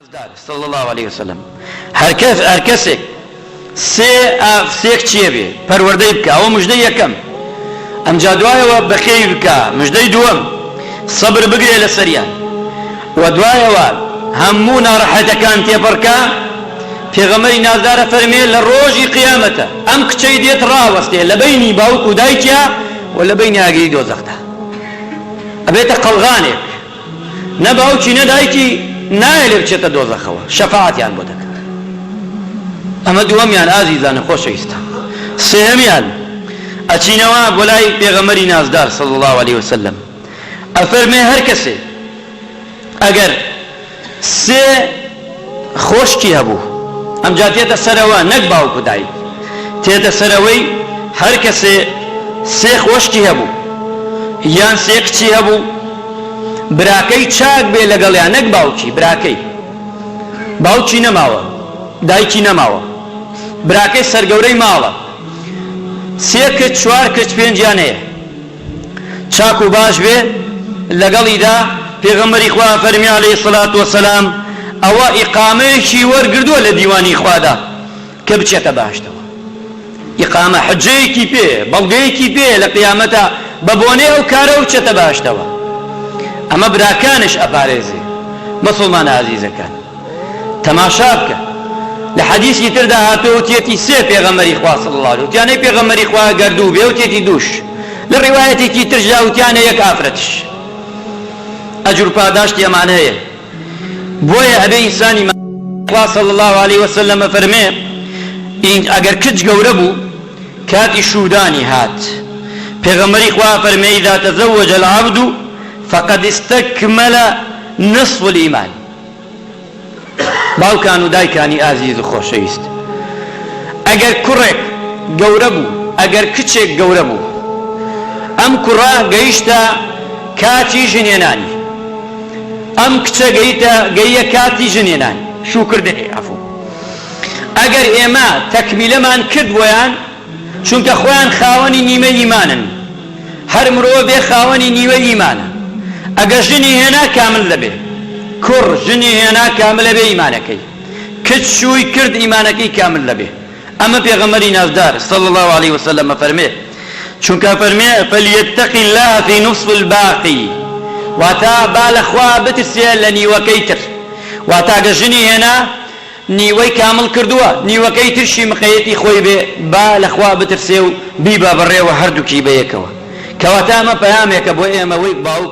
نازدار، صلی اللە علیە و سلم، هەرکەسێک سێ کچێ بێ پەروەردەی بکا ئەوە مژدەی یەکەم ئەمجا دوایەوە بەخێوی بکا مژدەی دووەم سەبر بگرێ لەسەریان وە دوایەوە هەموو نارەحەتەکان تێپەڕکا پێغەمبەری نازدار ئەفەرمێ لە ڕۆژی قیامەتە ئەم کچەی دێت ڕاوەستێ لە بەینی باوک و دایکیا وە لە بەینی ئاگری دۆزەخدا ئەبێتە قەڵغانێک نە باوکی نە دایکی نایە لێ بچێتە دۆزەخەوە شەفاعەتیان بۆ دەکات ئەمە دووەمیان ئازیزانە خۆشەویستان سێهەمیان ئەچینەوە بۆ لای پێغەمەری نازدار صلی الله علیه وسلم ئەفەرمێ هەر کەسێ ئەگەر سێ خۆشکی هەبوو، ئەمجا دێتە سەرەوە نەک باوک و دایک، دێتە سەرەوەی هەر کەسێ سێ خۆشکی هەبوو، یان سێ کچی هەبوو، براکەی چاک بێ لەگەڵیان نەک باوکی، براکەی باوکی نەماوە، دایکی نەماوە، براکەی سەرگەورەی ماڵە، سێ کچ، چوار کچ، پێنجیان هەیە. چاک و باش بێ لەگەڵیدا، پێغەمبەری خوا فەرمی علیە الصلوە و السلام، ئەوە ئیقامەیەکی وەرگردووە لە دیوانی خوادا کە بچێتە بەهەشتەوە، ئیقامە حوججەیەکی پێیە، بەڵگەیەکی پێیە لە قیامەتا بە بۆنەی ئەو کارەوە بچێتە بەهەشتەوە، ئەمە براکانش ئەپارێزێ مسوڵمانە ئازیزەکان. تەماشا بکە لە حەدیسی تردا هاتووە وتیەتی سێ پێغەمەری خوا صلی الله علیه وتیانەی پێغەمەری خوا گەردوو بێ وتیەتی دووش لە ڕیوایەتێکی ترشدا وتیانە یەک ئافرەتش ئەجر پاداشتی ئەمان هەیە بۆیە ئەبێ ئینسانی خوا صلی الله علیه وسلم فەرمێ ئەگەر کچ گەورە بوو کاتی شودانی هات پێغەمەری خوا فەرمێ اذا تزوج العبد فقد استكمل نصف الايمان باوکان و دایکانی ئازیز و خۆشەویست، ئەگەر کوڕێک گەورە بوو، ئەگەر کچێک گەورە بوو، ئەم کوڕە گەیشتە کاتی ژنهێنانی، ئەم کچە گەیتە گەییە کاتی ژنهێنانی، شووکردنی، عەفوو، ئەگەر ئێمە تەکمیلەمان کرد بۆیان، چونکە خۆیان خاوەنی نیمە ئیمانن هەر مرۆڤێ خاوەنی نیوە ئیمانە ئەگەر ژنی هێنا کامل دەبێ کوڕ ژنی هێنا کاملە بێ ئیمانەکەی کچ شووی کرد ئیمانەکەی کامل دەبێ ئەمە پێغەمبەری نازدار صلی الله علیه وسلم فەرمێ چونکە فەرمێ فلیتق الله فی نصف الباقی واتا با لە خوا بترسێ لە نیوەکەی تر واتا گە ژنی هێنا نیوەی کامڵ کردووە نیوەکەی ترشی مقەیەتی خۆی بێ با لە خوا بترسێ و بیبا بەڕێوە هەردووکی بەیەکەوە کەواتە ئەمە پەیامێکە بۆ ئێمە وەی باوک.